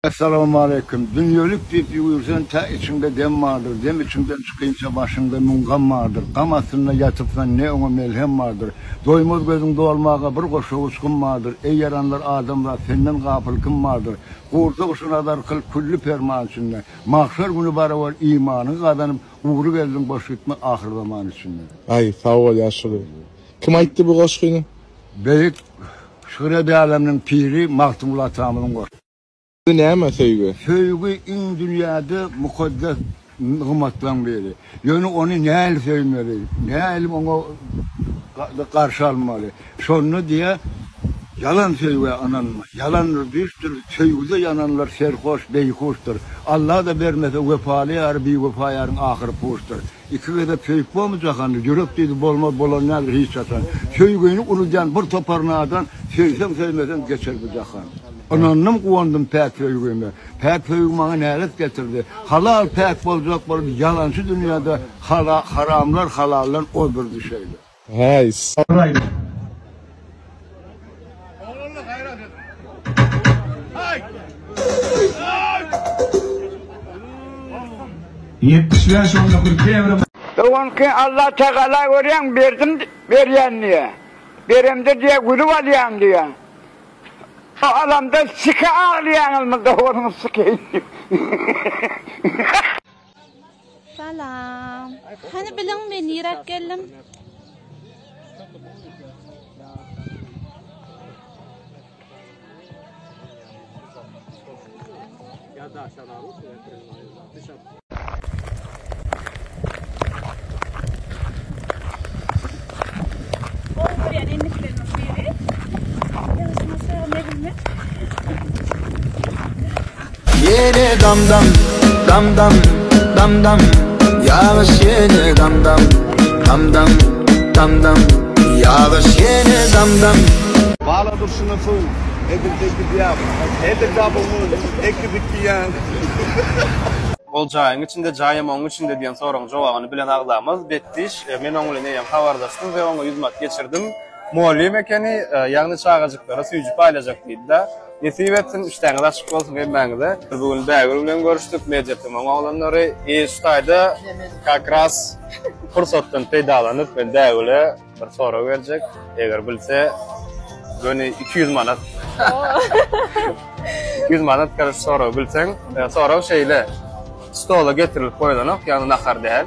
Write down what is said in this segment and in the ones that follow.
Essalamualeýkum. Dünýelik diýip ýüwürsen, tä içiňde dem bardyr, dem içiňden çykynça başyňda müň gam bardyr. Gam astynda ýatypsan, ne oňa melhem bardyr. Doýmaz gözüň dolmaga bir goşa uçgun bardyr. Eý ýaranlar adamzat, senden gapyl kim bardyr? Gurjak şu nazar kyl külli perman içinde. Magşar güni barabar imanyňy gazanyp, gury geldiň boş gitme ahyrzaman içinde. Aý, sag bol ýaşuly. Kim aýtdy bu goşgyny? Beýik Şükür ed älemniň piri Magtymguly atamyzyň goşgy. Söýgi näme söýgi? Söýgi iň dünýäde mukaddes nygmatlaň biri. Ýöne ony nähili söýmeli, nähili oňa garşy almaly? Şonda diýýär, Ýalan söýgä ynanma. Ýalandyr, düýşdür, söýgüde ýananlar serhoş, beýhuşdyr. Alla-da bermese, wepaly ýary biwepa ýaryň ahyry puşdyr. Iki gezek söýüp bormy jahanda, ýürek diýdi bolmaz bolan däldir hiç haçan. Söýgini uludýan bir topar nadan, söýseň söýmeseň geçer bu jahan. Ynandym guwandym päk söýgime, päk söýgi maňa nälet getirdi. Halal päk boljak bolup ýalançy dünýäde, haramlar halaldan ozdurdy şeýle. Haýs. Guraýly. Oglanlar gaýrat ediň. Haý! Haý! Bolsun. Ýetmiş bäş onda kül kebri. Öňki Allah Tagala görýäň berdim berýän diýä. Beremde diýä gülüp alýaň diýä. O alamda sike aglaýaňyzmy dowanyň sikeýini. Salam. Hany biliň men niräk geldim? Ya da aşağıda olsun. Ýene dam-dam, dam-dam, dam-dam, Ýagyş ýene dam-dam, dam-dam, dam-dam, Ýagyş ýene dam-dam. Bala durşuna suw, edil tekil ýap, Edil double moon, eki bikki ýaň. Ol jaýyň içinde, jaýam oň içinde diýen soragyň jogabyny bilen agzamaz, Betdiş. Men oň bilen eýýäm habardaşdym we oňa ýüzmat geçirdim. Mugallym ekeni, ýagny çagajyklara süýji paýlajak diýdi-de. Nesip etsin, işdäňiz açyk bolsun hemmäňize. Bu gün Bägül bilen görüşdik, Mediatemam oglanlary. Iş taýda kak ras pursatdan peýdalanyp, men Bägüle bir sorag berjek. Eger bilse, göni iki ýüz manat. Iki ýüz manat garaz soragy bilseň. Sorag şeýle, stola getirilip goýlanok, ýagny nahar däl.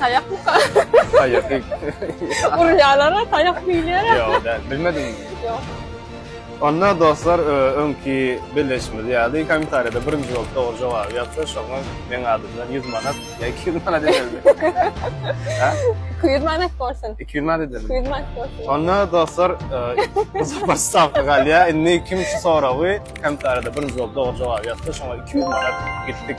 Taýak buka. Taýak. Urýalara taýak biýlere. Ýok, däl. Bilmediň. Ýok. Onda dostlar e, öňki belleşimiz ýaly kommentariýada birinji bolup dogry jogaby ýazsa şoňa meň adymdan 100 manat ýa 200 manat ederdi. 200 manat bolsun. 200 manat ederdi. 200 manat bolsun. Onda dostlar e, bu sapar stavka galýa. Indi kim şu soragy kommentariýada birinji bolup dogry jogaby ýazsa şoňa 200 manat gitdik.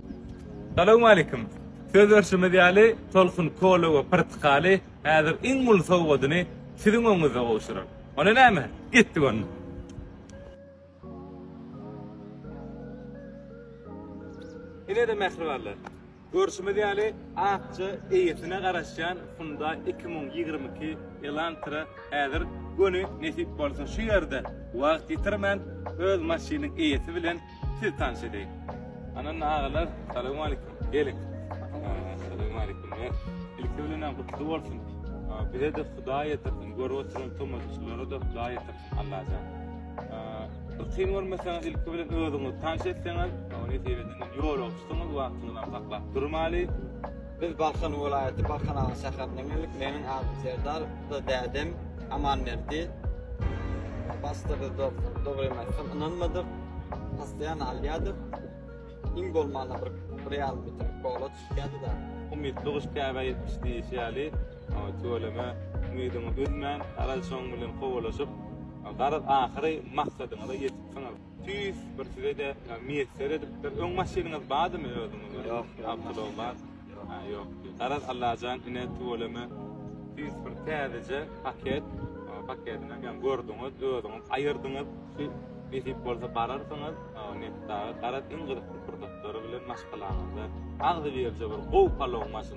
Salowmalikim! Söz berşimiz ýaly, Tolkun kola we pyrtykaly häzir iň uly sowgadyny siziň öňüňizde gowşurar. Onda näme? Gitdik onda! Ine-de mähribanlar! Görşümiz ýaly, akja eýesine garaşýan Hyundai iki müň ýigrimi iki Elantra häzir göni nesip bolsa şu ýerde wagt ýitirmän öz maşynyň eýesi bilen Siz tanş edeýin. Ananna agalar, salowmalikim. Geliň. Salowmalikim. Ilki bilen gutly bolsun. Bize de Hudaý ýetirsin. Görüp oturan tomaşaçylara da Hudaý ýetirsin. Allajan. Ykyn görmeseňiz ilki bilen özüňizi tanş etseňiz, ony sebeden ýol oçdyňyz, wagtyňyzy saklap durmaly. Biz Balkan welaýaty Balkan Aga şäherinde geldik. Meniň adym Serdar, bu da dädem Amanberdi. Başda biz dogrymy aýtsam ynanmadyk. Postoýan alýadyk. Iň bolmanda bir bir ýarym litr kola çykýardy-da. Umytly guş käbä ýetmiş diýşi ýaly, tüweleme umydyňy üzmän, garaz şoň bilen kowalşyp, garaz ahyry maksadyňyza ýetipsiňiz. Tüýs bir size-de miýesser edipdir. Öň maşynyňyz bardymy özüňiziň? Ýok, awtolog bar. Ha, ýok. Garaz Allajan ine tüweleme tüýs bir täzeje paket, paketini hem gördüňiz, özüňiz aýyrdyňyz. Nesip bolsa bararsyňyz, netdaga garaz iň gyzykly pursatlary bilen maşgalaňyza agzybirje bir gowy palow maşyn.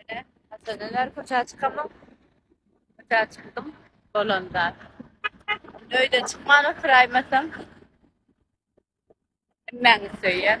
Ine, haçanlar köçä çykamok. Köçä çykdym, bolanda. Öýde çykman oturaýmasam. Hemmäňiz söýýän.